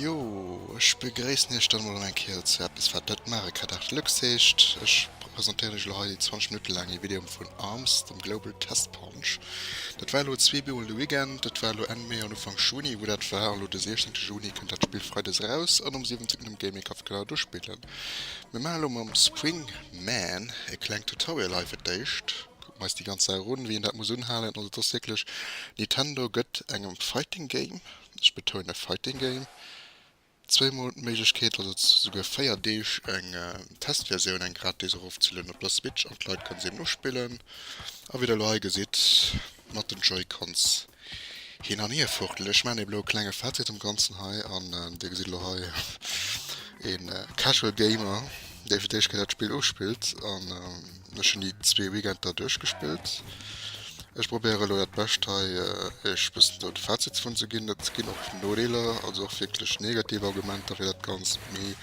Jo, ech begréissen iech dann emol an eng Kéier zu eppes wat net maache kann. Art Lux heescht. Ech presentéieren iech elo hei déi 20 Minutte laang ee Video vun Arms, dem Global Test Punch. Dat war elo zwee Bioen de Weekend, dat war elo Enn Mee an Ufank Juni wou dat war. Elo de 16 Juni kënnt dat Spill freides eraus an um 17 um Gaming Kaff kann een dat do spillen. Mir maache lo mam Spring Man e klengt Tutorial hei fir d'éischt. Kucke mer eis déi ganz Saach un, wéi een dat muss unhalen. Also et ass wierklech, Nintendo gëtt engem Fighting Game, ech betounen Fighting Game, zwee mol d'Méiglechkeet, also souguer véier Deeg, eng Testversioun, eng gratis, erofzelueden op der Switch an d'Leit kënne se eben uspillen. A wéi der elo hei gesitt. Mat den Joy-Cons hin an hier fuchtelen. Ech maachen ee bloe klenge Fazit zum Ganzen hei an Dir gesitt elo hei een Casual Gamer dee fir d'éischt Kéier dat Spill uspillt an ech hunn déi zwee Weekender duerchgespillt. Ech probéieren elo dat Bescht hei iech e bëssen do de Fazit dovun ze ginn. Et ginn och Nodeeler, also och wierklech negativ Argumenter fir dat Ganzt, mee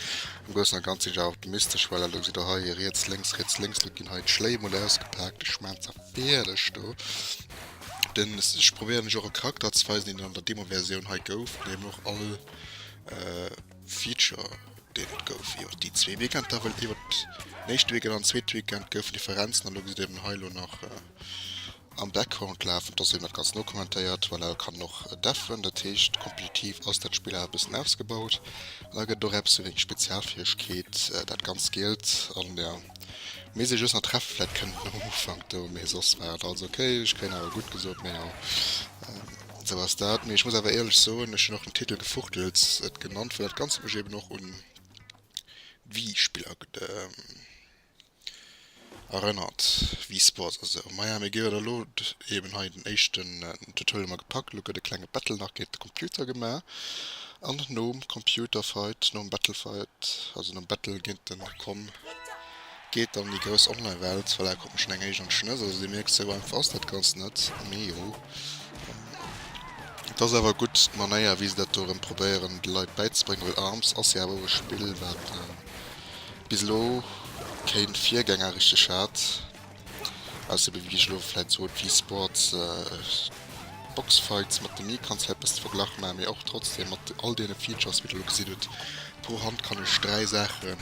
am Groussen a Ganze sinn ech awer optimistesch, well elo gesitt Der hei riets, lénks, riets, lénks, elo ginn hei d'Schléi emol ausgepaakt. Ech maachen ze. Beaerlech do. Den ech probéieren ech och e Charakter ze weisen deen et an der Demo Versioun hei gouf an eben och all Feature deen et gouf iwwert déi zwee Weekender well iwwert den éischte Weekend an den zweete Weekend goufen Differenzen an do gesitt eben hei elo nach am Background lafen dass een dat ganz nokommentéiert well et kann och deffen dat heescht kompetitiv ass dat Spill awer e bëssen ausgebaut an da gëtt et och eppes ewéi eng Spezialfäegkeet dat ganz Gielt an der. Mee se just nach treffen, vläit kënnt et nach um Ufank do, mee soss war et alles ok. Ech kréien awer gutt gesot, mee jo, esou ass dat. Mee ech muss awer éierlech soen, ech hunn och den Titel Gefuchtels et genannt, well dat Ganzt huet mech eben och un d'Wii-Spiller erënnert, Wii Sports a sou. Maja, mir géifen elo eben hei den éischten Tutorial hu mer gepackt. Elo gëtt e klenge Battle nach géint de Computer gemaach, an nom Computerfight, nom Battlefight, also nom Battle géint de Com, Geet an déi grouss Online-Welt. Voilà, kuckt mech schonn eng Éischt an d'Schnëss. Also Dir mierkt, sou einfach ass dat Ganzt net. Mee jo, et ass awer gutt, d'Manéier, wéi se dat do erëm probéieren de Leit bäizebréngen. Well Arms ass jo awer och e Spill, wat bis elo keen Virgänger richteg hat. Ausser wéi ech elo vläit sot, Wii Sports, Box Fights mat dem Micran vläit besse verglach, mä mee och trotzdem mat all deene Features wéi der elo gesidd hutt. Pro Hand kann ech 3 Saachen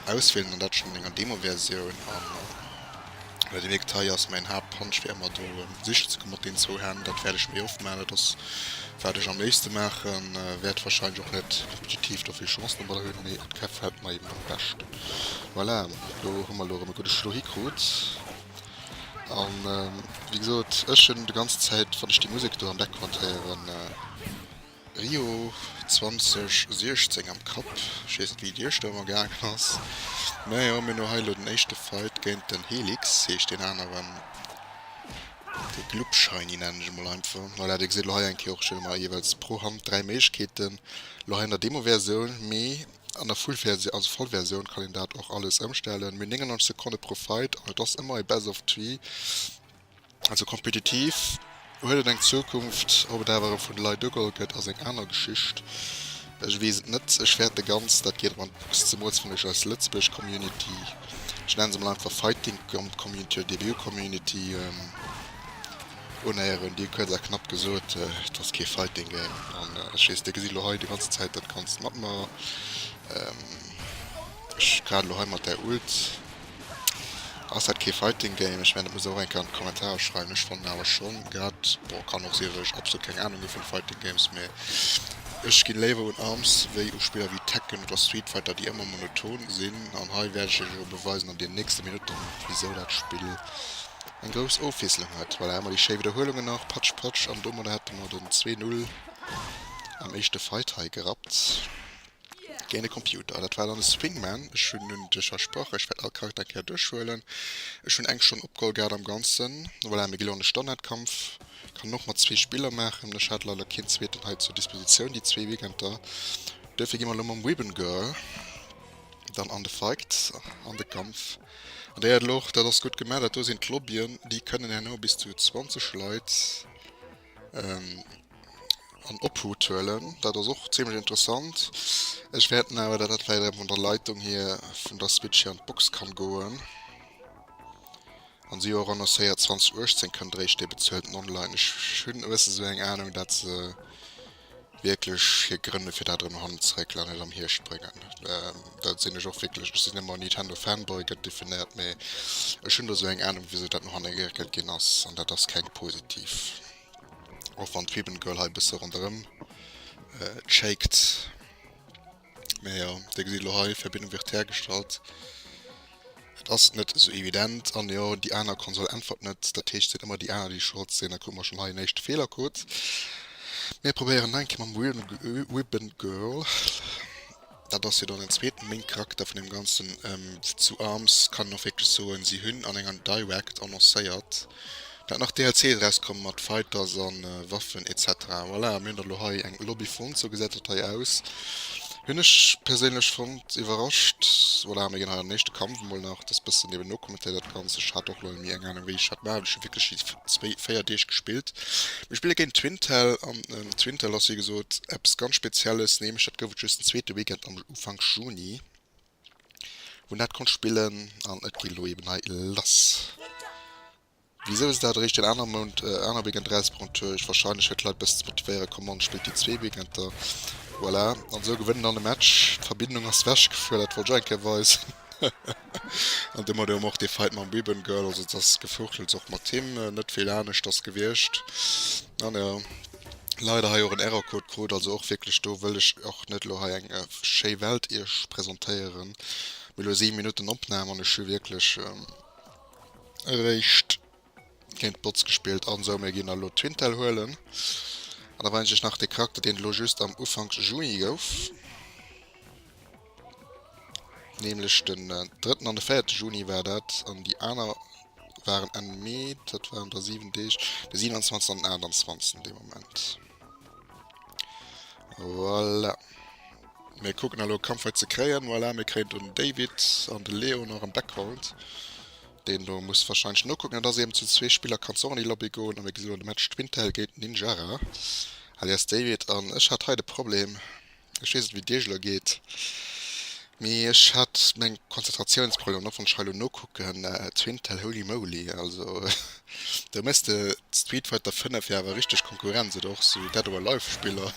auswielen, an dat schonn an enger Demoversioun. An well dee Wegtei ass mäin Haaptpunch fir ëmmer do sichen ze kommen mat deenen zwou Hänn, dat wäert ech méi oft maachen. Dat ass wat ech am léifste maachen, wäert warscheinlech och net kompetitiv do vill Chancen dobber hunn, mee et gefält mer eben am beschten. Voilà, do hu mer elo erëm e gudde Schlo hikrut. A wéi gesot, ech hunn déi ganz Zäit, wann ech déi Musek do am Background héieren, Rio 2016 am Kapp. Ech weess net, wéi et Iech do ëmmer gaangen ass. Mä jo, mir hunn elo hei elo den éischte Fight géint den Helix, heescht deen aneren. De Glubschaini nennen ech e mol einfach. Voilà, Dir gesitt elo hei eng Kéier och, ech hunn ëmmer jeeweils pro Hand dräi Méiglechkeeten. Elo hei an der Demoversioun, mee An der Full Versioun, also Vollversioun, kann een dat och alles ëmstellen, mee 99 Sekonne pro Fight, an et ass ëmmer e Best of Three, also kompetitiv huet et eng Zukunft. Ob et awer erëm vun de Leit ugeholl gëtt, ass eng aner Geschicht, ech weess et net. Ech fäerten ganz, dat geet erëm an d'Box, zemools fënn ech eis Lëtzebuerg Community, ech nenne se mol einfach Fighting Community oder DBU Community, Un Éier hunn déi kuerz a knapp gesot, Et ass kee Fighting Game. An ech weess, dir gesitt elo hei déi ganzen Zäit dat Ganzt mat mer. Ech grad elo hei mat där Ult. Ass dat kee Fighting Game? Ech mengen, dat musst der och eng Kéier an d'Kommentarer schreiwen. Ech fannen awer schonn grad, bon, kann och sinn, datt ech absolut keng Anung hu vun Fighting Games, mee ech ginn léiwer un arms wéi u Spiller wéi Tekken oder Street Fighter, déi ëmmer monoton sinn. An hei wäert ech iech elo beweisen an den nächste Minutten, wisou dat Spill eng grouss Ofwiesselung hat. Voilà, emmer déi schéi Widderhuelungen nach, patsch patsch an domadder hätte mer den 2-0 am éischte Fight hei gerappt géint e Computer. Dat war dann de Swingman. Ech hunn un dech versprach, ech wäert all Charakter eng Kéier duerchhuelen. Ech hunn eng Stonn opgeholl gehat am Ganzen. Voilà, mir gi lo an de Standardkampf. Kann och mat zwee Spiller maachen, ech hat leider keen zweeten hei zur Dispositioun déi zwee Weekender. Duerfir gi mer lo mam Ribbon Girl dann an de Fight, an de Kampf. An déi Ädel och. Dat ass gutt gemaach. Dat do sinn d'Lobbyen. Déi kënnen herno bis zu 20 Leit an Obhut huelen. Dat ass och zimlech interessant. Ech wäert den awer, dat dat vläicht erëm vun der Leitung hier vun der Switch hier an d'Box kann goen. An si hu och annoncéiert, 2018 kënnt eréischt déi bezuelten online. Ech hunn e bësse sou eng Anung, dat se. wierklech hir Grënn fir dat erëm hannen zeréck an net am Hierscht bréngen. Da sinn ech och wierklech, ech sinn ëmmer Nintendo Fanboy gëtt definéiert, mee ech hunn do esou eng Anung wisou dat no hanne geréckelt ginn ass an dat ass keng positiv. Och wann d'Ribbon Girl hei e bësse ronderëm shakt. Mä jo, Dir gesitt elo hei, Verbindung wird hergestellt. Et ass net esou evident. An jo, déi aner Konsol äntwert net. Dat heescht, et sinn ëmmer déi aner, déi Schold sinn. Da krute mer schonn hei en éischte Feelercode. Mir probéieren nach eng Kéier mam Ribbongirl. Dat ass jo dann den zweeten Main-Charakter vun deem Ganzen. Déi zwou Arms kann een och wierklech soen, si hunn an enger Direct annoncéiert, Dat nach DLCs erauskommen mat Fighters an Waffen etc. Voilà, mir hunn der lo hei eng Lobby fonnt, sou gesäit dat hei aus. Hunn ech perséinlech fonnt, iwwerrascht. Voilà, mir ginn hei an den éischte Kampf emol nach des bëssen eben nokommentéiert dat Ganzt. Ech hat och leider méi eng Ahnung wéi ech dat maachen, ech hunn wierklech just zwéi, véier Deeg gespillt. Mir spille géint Twintelle an Twintelle ass wéi gesot eppes ganz spezielles, nämlech dat gouf et just den zweete Weekend am Ufank Juni wou en dat konnt spillen an et geet lo eben hei lass. Wisou se dat eréischt den anere Mount aner Weekend erausbrongt hu ech wahrscheinlech fir d'Leit besser ze motivéieren, Commande spillt déi zwee Weekender, voilà, an esou gewënnt en all e Match, d'Verbindung ass wech gefuer, dat wollt ech och eng Kéier weisen, haha, an domadder hu mer och dee Fight mam Ribbon Girl, also et ass Gefuurtels och mat him, net vill aneschters gewiescht, an jo, leider hei och en Errorcode krut, also och wierklech do wëll ech och net elo hei eng schéi Welt iech presentéieren, mee elo 7 Minutten Opnam an ech hu wierklech. Eréischt géint d'Bots gespillt an esou. Mir ginn elo Twintelle huelen an da weisen ech iech nach dee Charakter deen elo just am Ufank Juni gouf, nämlech den drëtten an de véierte Juni war dat an déi aner waren Enn Mee, dat waren da 7 Deeg, de 27 an den 28 dee Moment. Voilà. Mir kucken elo e Kampffight ze kréien. Voilà, mir kréien den David an de Leo nach en Backhold. Deen do muss wahrscheinlech nokucken, an dass eben zu zwee Spiller kann och an déi Lobby goen. A mir gesi lo de Match Twintelle géint Ninjara alias David. An ech hat hei de Problem. Ech weess net wéi et iech elo geet, mee ech hat meng Konzentratiounsproblemer an och wann ech hei elo nokucken, zu Intel, holy moly, also do méchs de Street Fighter 5 jo awer richteg Konkurrenz oder och sou Dead or Alive Spiller,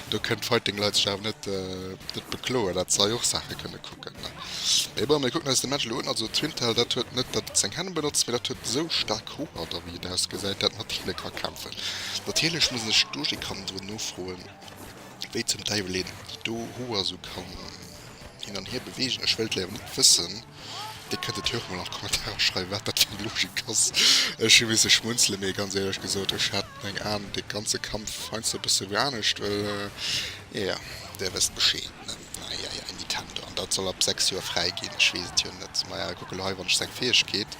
do kënnen d'Fighting Leit sech awer net net bekloen, dat se hei och Saache kënne kucken. Mee bon, mir kucken eis de Match elo un, also zu Intel, dat huet net datt et seng Hänn benotzt, mee dat huet esou staark Hoer da wéi et ausgesäit, dat mat Heale ka kämpfen. Natierlech muss een sech do, je kann do nofroen, Wéi zum Däiwel een déi do Hoer sou kann hin an hier beweegen, ech wëllt léiwer net wëssen. Dir kënnt et jo och mol an d'Kommentarer schreiwen, wat dat fir eng Logik ass. Ech hu misse schmunzelen, mee ganz éierlech gesot, ech hat meng Aen dee ganze Kampf heiansdo e bësse wéi anescht, well, jo, Dir wësst Bescheed, ne? Eieiei, Nintendo, an dat soll ab 6 Joer fräi ginn, ech weess et jo net. Maja, kuck elo hei, wann ech seng Fäegkeet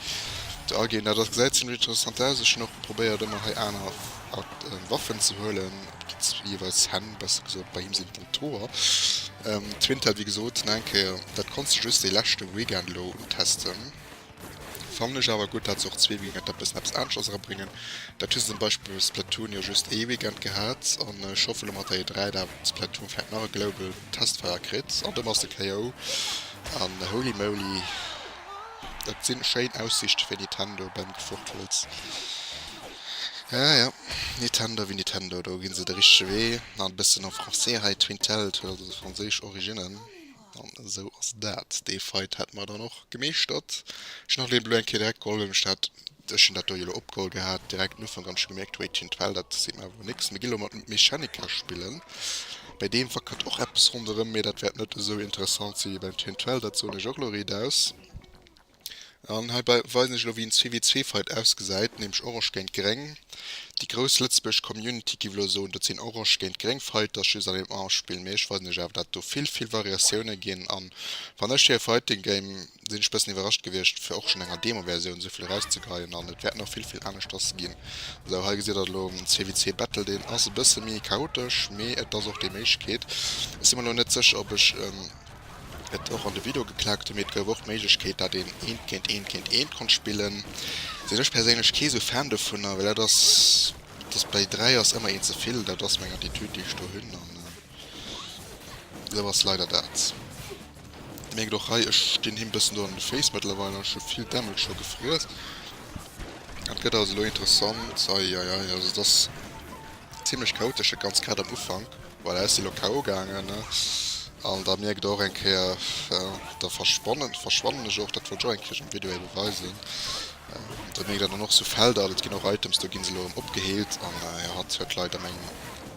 do aginn, dat ass, gesäit zimmlech interessant aus. Ech hunn och probéiert, ëmmer hei aner hat Waffen ze huelen op déi jeweils Hänn, besser gesot bei him sinn et den Toer. D'Twint hat wéi gesot no eng Kéier, dat konns de just dee leschte Weekend elo untesten. Fannen ech awer gutt dat se och zwee Weekender bëssen eppes aneschters erabréngen. Dat hu se zum Beispill bei Splatoon jo just ee Weekend gehat an ech hoffe elo mat der E3 dat Splatoon vläit nach e Global Testfire kritt an domat ass de KO an holy moly dat sinn schéin Aussiichte fir Nintendo beim Gefuchtelz. Ja, ja, Nitendo ewéi Nitendo, do ginn se de richtege Wee. Nach e bëssen en français hei, Twintel huet also franséisch Originnen. An esou ass dat. Dee Fight hätte mer dann och gemeeschtert. Ech hunn nach elo eng Kéier direkt geholl, well mech dat, ech hunn dat do jo elo opgeholl gehat, direkt den Ufank, an ech hu gemierkt, Wéi, Twintel, dat seet mer awer elo nix. Mir ginn elo emol d'Mechanika spillen. Bei deem wackelt och eppes ronderëm, mee dat wäert net esou interessant si wéi beim Twintel, dat soen ech och elo riidaus. An heibäi weisen ech elo wéi en CW-Zweefight ausgesäit, nämlech Orange géint Gréng. Déi grouss Lëtzebuerg Community giff elo soen, dat sinn Orange géint Gréng Fighters just an engem Armspill, mee ech weisen lech awer dat do vill vill Variatiounen ginn. An wann ech hire Fighting Game, sinn ech bëssen iwwerrascht gewiescht fir och schonn enger Demo Versioun esou vill erauszegeheien an et wäert nach vill vill aneschters ginn. Sou hei gesitt der elo en CWC Battle, deen ass e bësse méi chaotesch, mee et ass och déi Méiglechkeet. Ech si mer elo net sécher ob ech. Et och an de Video geklackt hun, mee et gouf och d'Méiglechkeet dat een eent géint eent géint eent konnt spillen. Sin ech perséinlech kee sou Fan dovunner, well dat ass des bei 3 ass emmer een zevill, dat ass meng Attitude déi ech do hun an sou ass leider dat. Dir mierkt och hei, ech gin him bessen do an de Face mëttlerweil an ech hu vill Damage scho gefriess. Dat gëtt also lo interessant, eieiei, also et ass. Zimlech chaotesch de ganz Quête am Ufank. Voilà ech si lo KO gaangen an da mierkt der och eng Kéier da verschwannen verschwannen ech och. Dat wollt ech och eng Kéier am Video hei beweisen. Da mierkt der dann och sou Felder an et ginn och Items do gi se elo erëm opgeheelt an jo hatt huet leider meng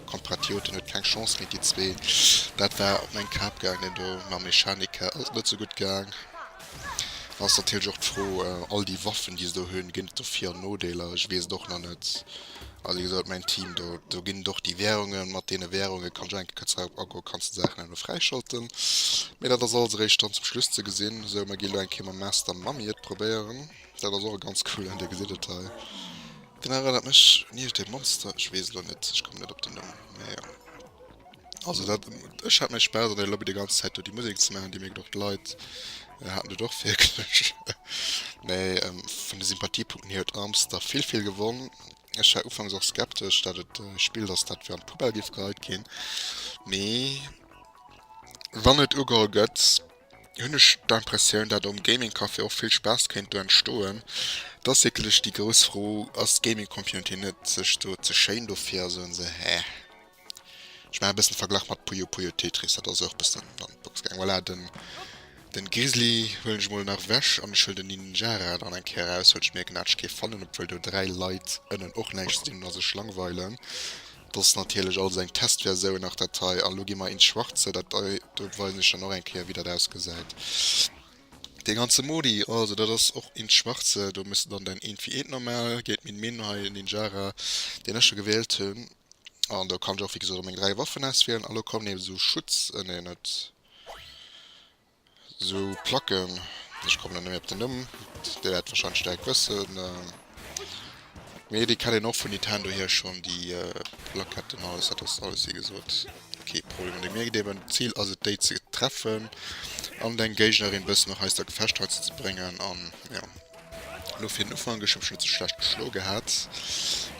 Kompratioten huet keng Chance méi déi zwee. Dat war op meng Kap gaangen deen do mam Mechanika ass et net sou gutt gaang. Dann ass natierlech och d'Fro all déi Waffen déi se do hunn ginn et do Vir an Nodeeler? Ech weess et och nach net. Also wéi gesot, mäin Team, do, do ginn et och déi Währungen. Mat deene Währunge kann Jenke ka Zaup agoen, kanns de Saachen elo fräischalten. Mee dat ass alles eréischt dann zum Schluss ze gesinn. Sou, mer gi elo eng Kéier mam Master Mummy et probéieren. Dat ass och e ganz coolen, Dir gesitt et hei. Den erënnert mech un iergendee Monster, ech weess elo net, ech komme net op den Numm, mee jo. Also dat, ech hat méi Spaass an der Lobby déi ganz Zäit do déi Musek ze maachen, déi mierkt och d'Leit haten dat och wierklech. Mee vun de Sympathiepunkten hier huet Armster vill vill gewonn. Ech war ufanks och skeptesch dat et e Spill dass dat fir an d'Poubelle géif geheit ginn, mee wann et ugeholl gëtt hunn ech d'Impressioun dat am Gaming Café och vill Spaass kéint do entstoen. Et ass wierklech déi grouss Fro, ass d'Gaming Communauté net sech do ze schéin dofir a soen se, heh. Ech maachen e bëssen Verglach mat Puyo Puyo Tetris, dat ass och bëssen an d'Box gaang. Voilà, den, den Grizzly huelen ech mol nach wech an ech huelen den Ninjara dann eng Kéier eraus, well ech mierken hat ech kee fannen, obwuel do 3 Leit ënnen och näischt ze dinn hunn a sech langweilen. Dat ass natierlech alles eng Testversioun nach dat hei. An elo gi mer ins Schwarze, dat hei do weisen ech dann och eng Kéier wéi dat ausgesäit. Dee ganze Modi, also dat ass och ins Schwarze, do muss de dann däin Eent fir Eent normal, Gétt Min Min hei, Ninjara, deen ech jo gewählt hunn. An do kann ech och wéi gesot meng 3 Waffen auswielen an lo kommen eben esou Schutz, nee net esou Placken, ech kommen net méi op den Numm, dir wäert wahrscheinlech direkt wëssen, mee déi kennt een och vun Nintendo hier schonn déi Plaketten, alles dat ass alles wéi gesot kee Problem. An déi mir eben d'Zil ass et déi ze treffen an deng Géignerin bëssen nach eis der Gefecht hei ze bréngen an jo. Elo fir den Ufank, ech hu mech elo ze schlecht geschloe gehat,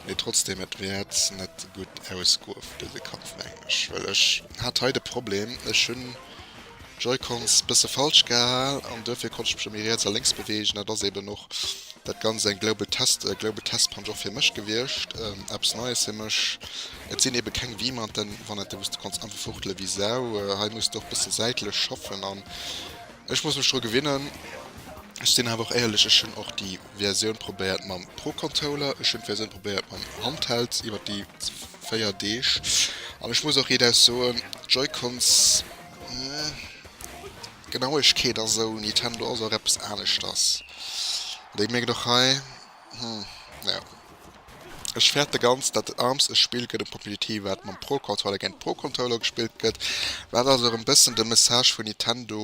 mee trotzdeem et wäert net gutt ausgoen dëse Kampf mengen ech, well ech hat hei de Problem, ech hunn d'Joy-Cons bësse falsch gehal an duerfir konnt ech mech da méi riets a lénks beweegen. Dat ass eeben och dat Ganzt eng Global Test, Global Test Punch och fir mech gewiescht, eppes Neies fir mech. Et sinn eebe keng Wiimanten, wann et, wou s de konns einfach fuchtele wéi Sau. Hei muss de och bësse säitlech schaffen an Ech muss mech dru gewinnen. Ech sinn awer och éierlech, ech hunn och déi Versioun probéiert mam Pro Contoller, ech hunn d'Versioun probéiert mam Handheld iwwer déi 4 Deeg an ech muss och idaus soen, d'Joy-Cons, d'Genauegkeet a sou, Nintendo ass och eppes aneschters. Déi mierkt och hei. Hm naja. Ech färte ganz dat et arms e Spill gëtt um Competitive wat mam Pro Controller géint Pro Controller gespillt gëtt, wat also erëm bëssen de Message vun Nintendo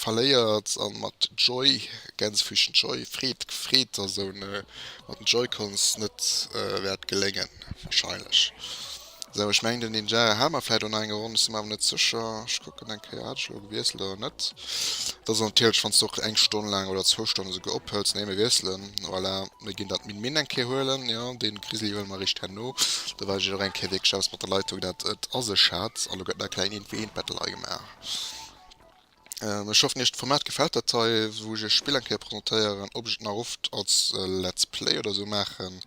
verléiert an mat Joy, Gänsefüßchen Joy, Freed, Freed a sou, mat den Joy-Cons net wäert geléngen wahrscheinlech. Sou, ech mengen den Ninjara hat mer vläit och nach eng geronn, ech si mer awer net sécher. Ech kucken eng Kéier, hat ech elo gewiesselt oder net? Et ass natierlech, wann s de och eng Stonn laang oder zwou Stonnen esouguer ophëls. Nee, mir wiesselen. Voilà, mir ginn dat Min-Min eng Kéier huelen. Jo, dee Grizzly huele mer eréischt herno, da weisen ech iech och eng Kéier wierklech aus mat der Leitung, wat dat a sech hat. An do gëtt nach e klengen Info-Eent-Battle hei gemaach. Ech hoffen iech d'Format gefällt dat hei wou ech iech Spill eng Kéier presentéieren. Ob ech et nach oft als Let's Play oder sou maachen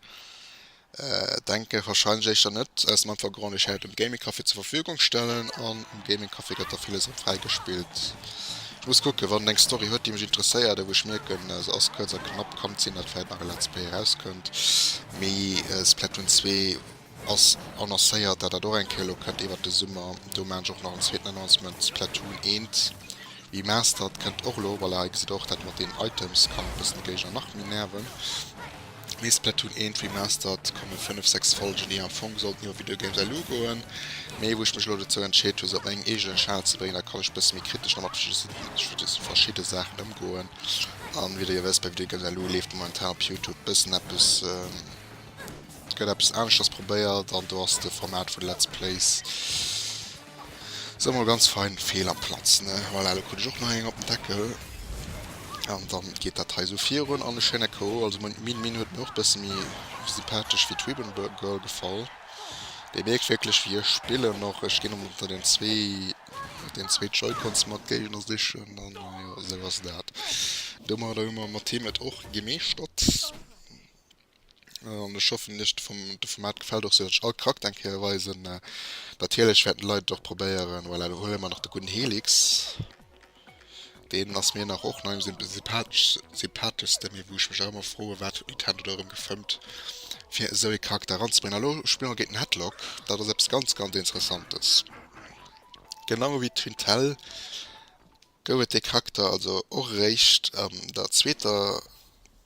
denke wahrscheinlech éischter net aus dem einfache Grond ech hätt et um Gaming Café zur Verfügung stellen an um Gaming Café gëtt da villes och fräi gespillt. Ech muss kucken wann et eng Story huet déi mech interesséiert a wou ech mierken se ass kuerz a knapp kann et sinn dat vläit nach e Let's Play eraus kënnt mee Splatoon 2 ass annoncéiert, dat dat och eng Kéier elo kënnt iwwert de Summer. Do maachen ech och nach en zweeten Announcement, Splatoon 1 Remastered kënnt och elo. Voilà, hei gesitt der och, dat mat deenen Items kann e bëssen de Géigner nach méi nerven. Mee Splatoon 1 Remastered, komme fënnef, sechs Folgen, déi am Fong sollten iwwer Video Games LU goen, mee wou ech mech elo dozou entscheet hu se op mengem eegenen Schal ze bréngen, da kann ech e bësse méi kritesch nach mat verschidde Saachen ëmgoen. A wéi der jo wësst, bei Video Games LU leeft momentan op Youtube e bëssen eppes. Et gëtt eppes aneschters probéiert an do ass de Format vun Let's Plays soe mol ganz fein fehl am Platz ne. Voilà elo krut ech och nach eng op den Deckel an dann geet dat hei sou virun an ech hénne ko. Also meng Min Min huet mir och bësse méi sympathesch wéi d'Ribbon Girl gefall. Dir mierkt wierklech wéi ech spillen och. Ech ginn ëmmer ënner den zwee den zwee Joy-Cons mat Géigner sichen an jo esou ass dat. Domadder hu mer mat him et och gemeeschtert. An ech hoffen iech de Format gefällt och sou datt ech all Charakter eng Kéier weisen. Natierlech wäerten d'Leit et och probéieren. Voilà lo huele mer nach de gudden Helix. Deen ass mir nach och nei um sympatheschste. Mee wou ech mech nach ëmmer froen wat huet Nintendo do erëm gefëmmt fir esou ee Charakter eranzebréngen. A lo spille mer géint den Headlock. Dat ass eppes ganz ganz Interessantes. Genau ewéi d'Twintelle. gouf et dee Charakter also och eréischt an der zweeter,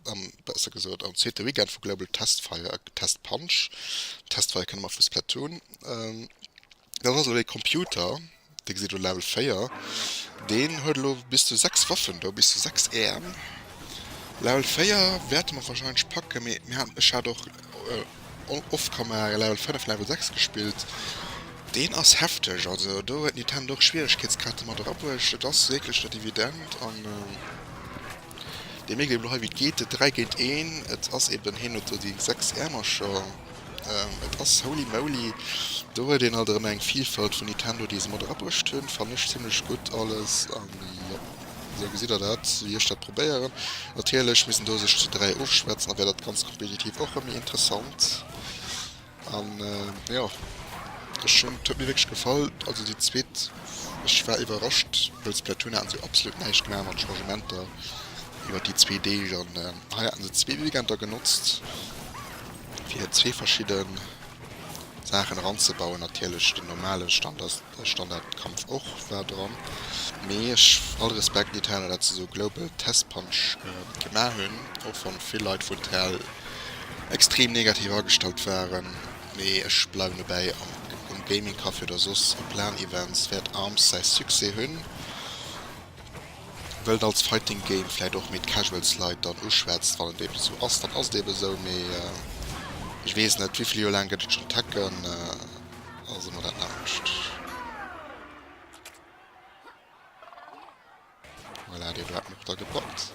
an besser gesot am zweete Weekend vu Global Testfire, Test Punch, Testfire kenne mer vu Splatoon. Dat ass elo ee Computer, dee gesitt elo Level 4, deen huet elo bis zu 6 Waffen do, bis zu 6 Äerm. Level 4 wäerte mer warscheinlech packe mee mir hat, ech hat och. All off kann mar e Level 5, Level 6 gespillt. Deen ass hefteg, also do huet Nintendo och Schwieregkeetsgrad domat erabruecht. Et ass wierklech net evident an dir mierkt eben elo hei wéi et geet, et 3 géint 1. Et ass eben, hien huet do déi 6 Äermercher, et ass holy moly. Do huet een alt erëm eng Vilfalt vun Nintendo déi se mat erabruecht hunn, fannen ech zimmlech gutt alles an jo. Esou gesitt der dat, wéi ech dat probéieren. Natierlech misst een do sech zu dräi ofschwätzen, da wär dat Ganzt kompetitiv och rëm méi interessant. An jo, ech hunn, huet mir wierklech gefall. Also déi zweet, ech war iwwerrascht, wëll Splatoon hat esou absolut näischt gemaach mat Changementer iwwer déi zwee Deeg. An hei haten se zwee Weekender genotzt, fir zwee verschidde Saachen eranzebauen. Natierlech den normale Standard. Ech dann dat Kampf och war dran mee ech all Respekt déi Teile dat se sou global test punch gemaach hunn och wann vill Leit vun Tel extrem negativ agestallt waren mee ech bleiwen dobäi um Gaming Café oder soss op Lan Events wäert Arms säi Succès hunn wëll en als Fighting Game vläit och méi d'Casuals Leit dann uschwätzt wann et eben sou ass dann ass et eben sou mee ech weess net wéivill Joer laang gëtt et schon Tekken? Also mol dat Laanscht. Voilà, dee Blat noch da gepackt.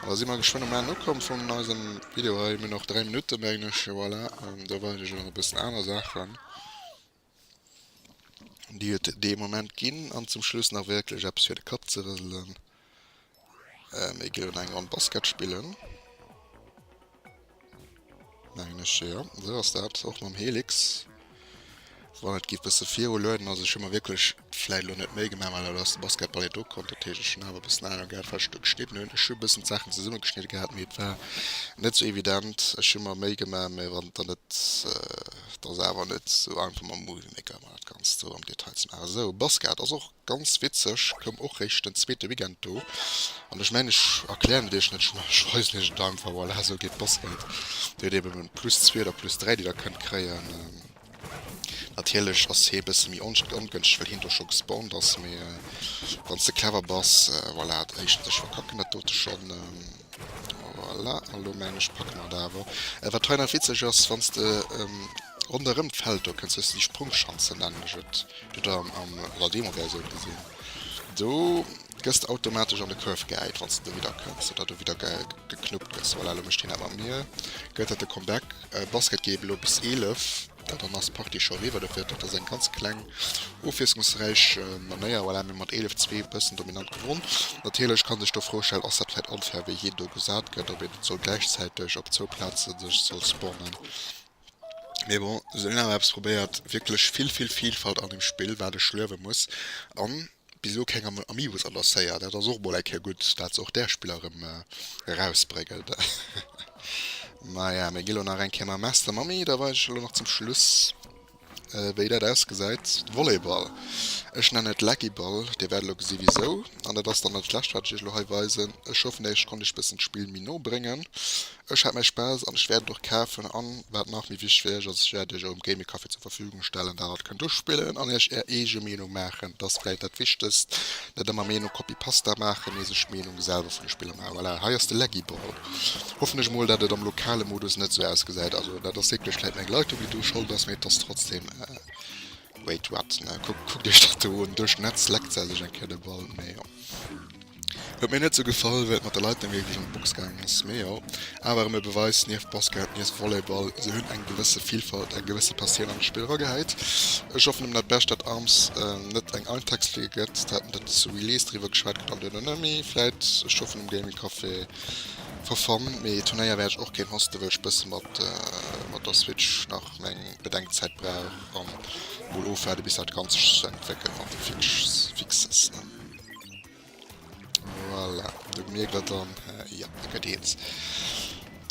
An da si mer geschwënn um Enn ukomm vun eisem Video hei. Mir hunn nach 3 Minutten, mengen ech. Jo, voilà. Da waren ech nach e bëssen aner Saachen, déi et dee Moment ginn. An zum Schluss nach wierklech eppes fir de Kapp ze rëselen. Mir geifen eng Ronn Basket spillen. Mengen ech jo, esou ass dat och mam Helix. Wann et giff bessen viru lueden ass, ech hu mer wierklech vläit lo net Méi gemaach, mä dat ass de Basketball jo do konnt, dat heesch ech hunn awer e bëssen Ahnung gehat wat ech do geschnidden hunn. Ech hu bëssen d'Saachen zesummegeschnidde gehat, mee et war net sou evident. Ech hu mer Méi gemaach, mä wann et dann net, et ass awer net sou einfach mam Movie Maker ëmmer dat Ganzt sou am Detail ze maachen. Esou Basket ass och. ganz witzeg, koum och réischt den zweete Weekend do an ech mengen ech erklären et iech net, ech weisen iech et einfach, voilà esou geet Bossfight, dir hutt eben en plus zwee oder plus dräi déi der kënnt kréien, natierlech ass hee e bësse méi ongënschteg well heen do scho gespawnt ass, mee wanns de clever bass, voilà, éischtens ech verkacken dat dote schonn. Voilà, an lo mengen ech packe mer et awer. Wat hei nach witzeg ass, wann s de ronderëm d'Feld do kënns, hues de déi Sprungschanzen, nennen ech et, déi huet der an der Demoversioun gesinn. Do gëss de automatesch an de Curve gehäit, wann s de dovidder kënns oder do widder geknuppt gëss. Voilà, lo mécht hien dat mat mir, gëtt dat de Comeback. Basket geet elo bis 11. Well dann ass d'Partie scho eriwwer. Dofir huet Dokter seng ganz kleng ofwiesslungsräich Manéier voilà mir hu mat 11, zwee bëssen dominant gewonn. Natierlech ka sech do d'Fro stellen, ass dat vläicht onfair wéi hien do gesat gëtt, ob een net soll gläichzäiteg op zwou Plaze sech soll sponnen. Mee bon, se hunn awer eppes probéiert, wierklech vill vill Vielfalt an dem Spill wat ech luewe muss an. Bis elo keng am Amiibus annoncéiert, dat ass och mol eng Kéier gutt, dat se och där Spiller erëm erausbréngen. Maja, mir gi lo nach eng Kéier mam Master Mamie, da weisen ech elo nach zum Schluss, wéi dat ausgesäit, de Volleyball. Ech nennen et Laggyball, Dir wäert elo gesi wisou. An dat ass dann dat Lescht, wat ech Iech elo hei weisen. Ech hoffen, Iech konnt ech e bëssen d'Spill méi no bréngen. Ech hat mäi Spaass an ech wäert et och kafen an wat nach méi wichteg ass, ech wäert iech erëm Gaming Café zur Verfügung stellen, dat der kënnt uspillen an iech är eege Meenung maachen. Et ass vläit dat wichtegst, net ëmmer Meenung copy pasta maachen, mee sech Meenung selwer vun de Spiller maachen. Voilà, hei ass de Leggy Ball. Hoffen ech mol dat et am lokale Modus net sou ausgesäit. Also dat ass wierklech vläit meng Leitung déi do schold ass, mee et ass trotzdem. Wait what? Na kuckt iech dat do un. Duerch d'Netz leckt se sech eng Kéier de Ball. Mee jo. Huet mir net sou gefall wéi et mat de Leiten wierklech an d'Box gaangen ass. Mee jo. Awer erëm e Beweis, nieft Basket, nieft Volleyball, se hunn eng gewësse Vilfalt, eng gewësse Passioun an d'Spill eragehäit. Ech hoffen nëmmen dat Berstadt Arms net eng Eintagsfliege gëtt. Haten der zu Release driwwer geschwat geet an duerno nëmmi vläit. Ech hoffen um Gaming Café for fun. Mee Turnéier wäert ech och kéint hosten, wëll ech bësse mat der Switch nach meng Bedenkzäit brauch. an mol ofwaarde bis dat ganz sech zu entwéckelt mat de fixes ne voilà. du mir gëtt dann äh, ja gëtt eens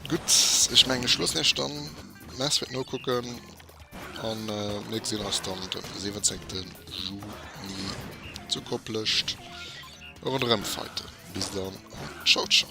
gut ech menge schloss nächt dann mess wird no kucken an äh, mir gesinn ass dann den 17 juni zu kopplecht rondrem feiten bis dann an ciao ciao